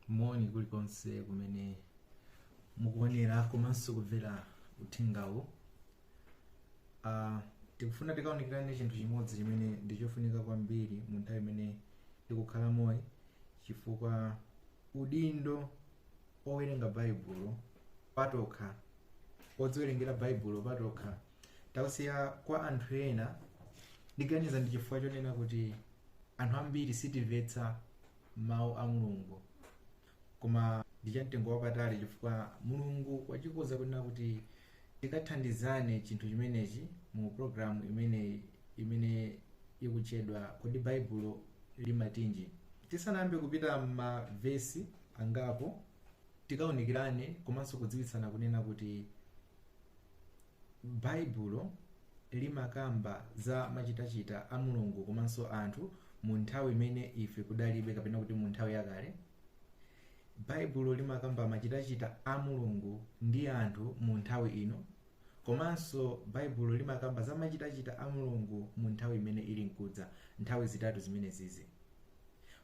moni kulikonse kumene mukuonera komanso kumvera uthengawu uh, tikufuna tikaunikirane chinthu chimodzi chimene ndi chofunika kwambiri mu nthawi imene tikukhala moyoyi chifukwa udindo owerenga baibulo patokha odziwerengera baibulo patokha tausiya kwa anthu ena ndiganiza ndi chifukwa chonena kuti anthu ambiri sitimvetsa mawu a mulungu koma ndi chamtengo wapatali chifukwa mulungu wachikoza kunena kuti tikathandizane chinthu chimenechi mu programu imene imene ikutchedwa kodi baibulo limatinji tisanayambe kupita m'mavesi angapo tikaunikirane komanso kudziwitsana kunena kuti baibulo limakamba za machitachita a mulungu komanso anthu mu nthawi imene ife kudalibe kapena kuti mu nthawi yakale baibulo limakamba machitachita a mulungu ndi anthu mu nthawi ino komanso baibulo limakamba za machitachita a mulungu mu nthawi imene ili nkudza nthawi zitatu zimenezizi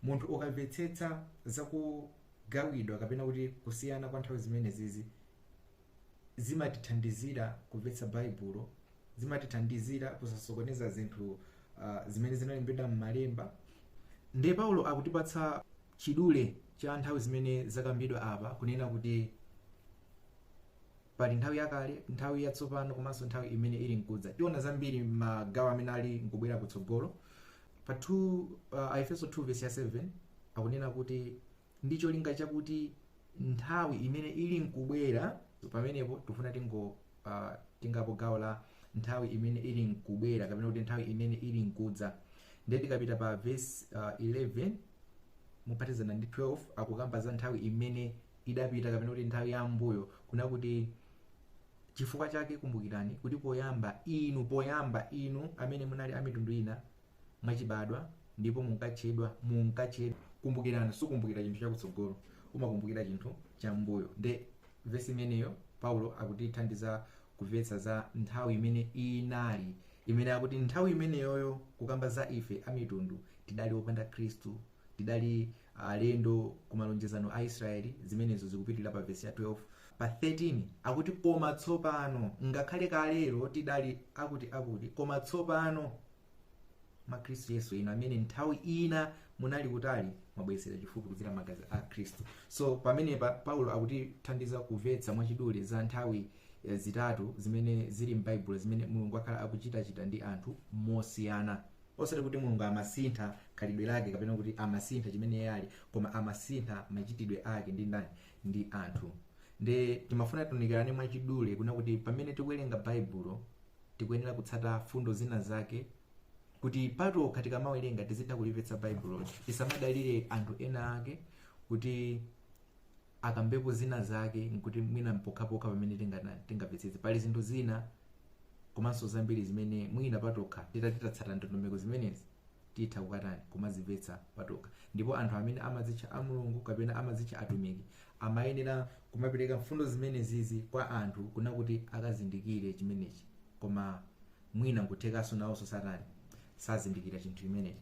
munthu ukamvetsetsa zakugawidwa kapena kuti kusiyana kwa nthawi zimenezizi zimatithandizira kumvetsa Baibulo, zimatithandizira kusasokoneza zinthu uh, zimene zinalembedwa m'malemba. Ndiye Paulo akutipatsa chidule cha nthawi zimene zakambidwa apa kunena kuti pali nthawi yakale, nthawi yatsopano komanso nthawi imene ili nkudza. Tiona zambiri m'magawo amene ali nkubwera kutsogolo. Pa 2 uh, Aefeso 2 vesi ya 7 akunena kuti ndi cholinga chakuti nthawi imene ili nkubwera pamenepo tikufuna tingo uh, tengapo gawo la nthawi imene ili nkubwera kapena kuti nthawi imene ili nkudza ndiye tikapita pa verse uh, 11 mophatikizana ndi 12 akukamba za nthawi imene idapita kapena kuti nthawi ya m'mbuyo kuna kuti chifukwa chake kumbukirani kuti poyamba inu poyamba inu amene munali amitundu ina mwachibadwa ndipo munkatchedwa munkatchedwa kumbukirani sukumbukira chinthu chakutsogolo umakumbukira chinthu cham'mbuyo nde vesi imeneyo paulo akutithandiza kumvetsa za nthawi imene inali imene akuti nthawi imeneyoyo kukamba za ife amitundu tidali opanda khristu tidali alendo ku malonjezano a israeli zimenezo zikupitirira pa vesi ya 12 pa 13 akuti koma tsopano ngakhale kalero tidali akuti akuti koma tsopano mwa khristu yesu inu amene nthawi ina munali kutali mwabweretsedwa chifupi kudzera mmagazi a khristu so pamenepa paulo akutithandiza kumvetsa mwachidule za nthawi zitatu zimene zili m'baibulo zimene mulungu wakhala akuchitachita ndi anthu mosiyana osati kuti mulungu amasintha khalidwe lake kapena kuti amasintha chimene iye ali koma amasintha machitidwe ake ndi ndani ndi anthu nde timafuna tiunikirane mwachidule kuna kuti pamene tikuwerenga baibulo tikuyenera kutsata fundo zina zake kuti patokha tikamawerenga tizitha kulimvetsa baibuloli tisamadalire anthu ena ake kuti akambepo zina zake nkuti mwina mpokhapokha pamene tingana- tingamvetsetse pali zinthu zina komanso zambiri zimene mwina patokha titati tatsata ndondomeko zimenezi titha kukatani kumazimvetsa patokha ndipo anthu amene amadzitcha a mulungu kapena amadzitcha atumiki amayenera kumapereka mfundo zimenezizi kwa anthu kuna kuti akazindikire chimenechi koma mwina nkuthekanso nawonso sakutani sazindikira chinthu chimenechi